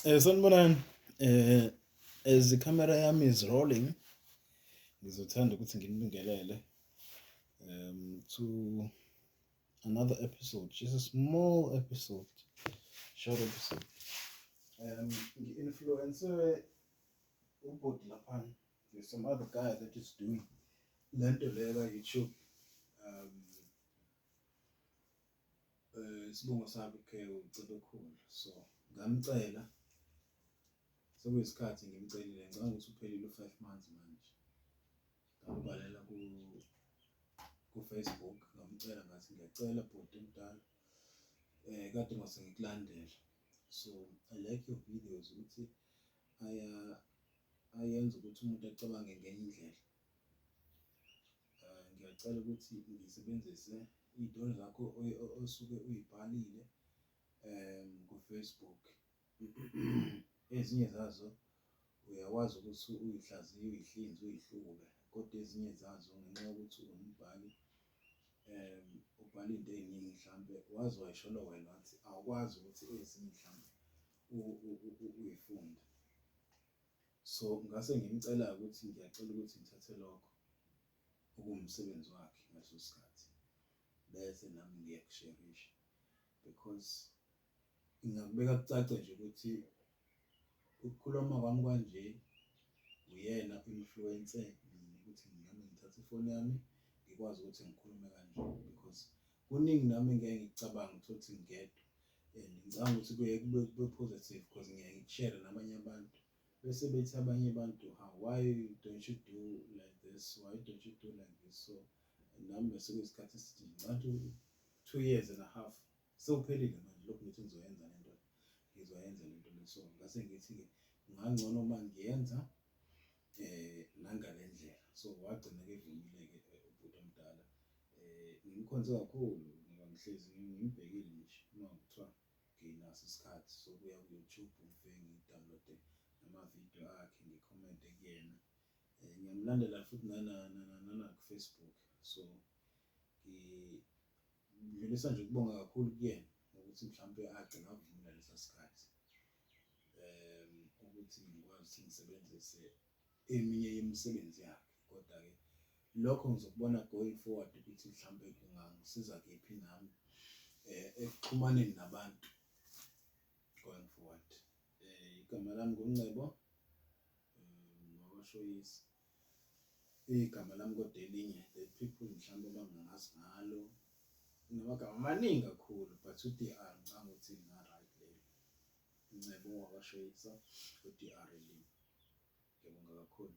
Eh sanibonani eh as the camera yami is rolling ngizothanda ukuthi nginibingelele um to another episode just a small episode short episode um ngi-influencer ubhuti lapha there's some other guy that is doing le nto leyo ka-youtube um eh isibongo sami ke uCebekhulu so ngamcela sekuyisikhathi ngimcelile ngicabanga ukuthi uphelile u5 months manje ngambhalela ku ku Facebook ngamcela ngathi ngiyacela bhuti omdala eh kade ngase ngikulandela so i like your videos ukuthi aya ayenza ukuthi umuntu acabange ngenye indlela Eh, ngiyacela ukuthi ngisebenzise iy'tolo zakho osuke uyibhalile um kufacebook ezinye zazo uyakwazi ukuthi uyihlaziye uyihlinze uyihlube kodwa ezinye zazo ngenxa yokuthi ungumbhali um ubhala into ey'ningi mhlampe waze wayisholo wena wathi awukwazi ukuthi ezinye mhlampe uyifunde So ngase ngimcela ukuthi ngiyacela ukuthi ngithathe lokho okuwumsebenzi wakhe ngaleso sikhathi bese nami ngiyakusherisha because ngingakubeka kucace nje ukuthi ukukhuluma kwami kwanje uyena influence mina ukuthi nami ngithathe ifoni yami ngikwazi ukuthi ngikhulume kanje because kuningi nami ngeke ngikucabanga ukuthi ngingedwa and ngicabanga ukuthi kuye kube kube positive because ngiye ngikushare nabanye abantu bese bethi abanye abantu ha why don't you do like this why don't you do like this so nami bese kuyisikhathi esithi ngicathi two years and a half sewuphelile manje lokhu ngithi ngizoyenza le nto ngizoyenza le nto le so ngase ngithi-ke ngangcono uma ngiyenza eh nangale ndlela so wagcina ke vumile-ke eh, ubhuti omdala eh ngimkhonze kakhulu ngoba ngihlezi ngimbhekile nje uma kuthiwa nginaso isikhathi sokuya ku-youtube ngife ngidownloade namavidiyo akhe ngikhomente kuyena um ngiyamlandela futhi nanakufacebook so ngidlulisa nje ukubonga kakhulu kuyena ukuthi mhlawumpe agcina avumela lesa sikhathi um ukuthi ngikwazi ukuthi ngisebenzise eminye yemisebenzi yakhe kodwa-ke lokho ngizokubona going forward ukuthi mhlawumbe kungangisiza kephi nami um ekuxhumaneni nabantu going forward um igama lami nguncebo um ngokoshoyisi Igama lami kodwa elinye the people mhlawumbe abangangazi ngalo namagama amaningi kakhulu but uDR ngicanga ukuthi nga right leli Ncebo wakashayisa uDR elimi ngiyabonga kakhulu